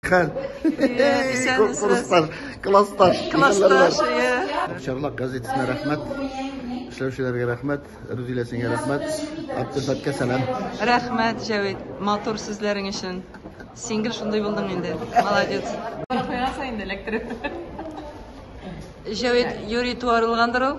Хәл. Классташ. Классташ. Классташ. Чарлак газетасына рәхмәт. Эшләүчеләргә рәхмәт. Рүзилә сиңа рәхмәт. Абдулфатка сәлам. Рәхмәт, Җәвит. Матур сүзләрең өчен. Син гел шундый булдың инде. Молодец. Куясың инде электр. Җәвит юри туарылгандыр ул.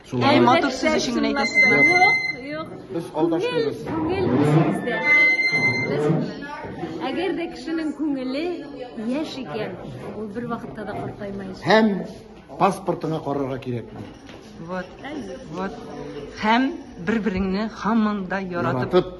Шулай. Әй, матур сүз өчен генә әйтәсезме? Юк, юк. Без алдаш түгел. Күңел сездә. Беләсезме? Әгәр дә кешенең күңеле яшь икән, ул бер вакытта да картаймаячак. Һәм паспортыңа карарга кирәк. Вот, вот. Һәм бер-береңне һаман да яратып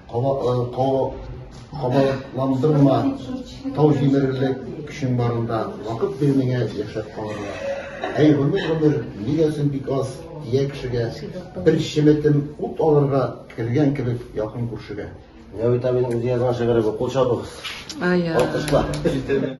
Кабаландырма, тау җимерерлек көчең барында, вакыт бир миңа яшәп калырга. Әй, гомер, гомер, нигә син бик аз, ия кешегә, бер чеметем ут алырга кергән кебек якын күршегә. Нәвит абиның үзе язган шигыре бу, кул чабыгыз. Алкышлар.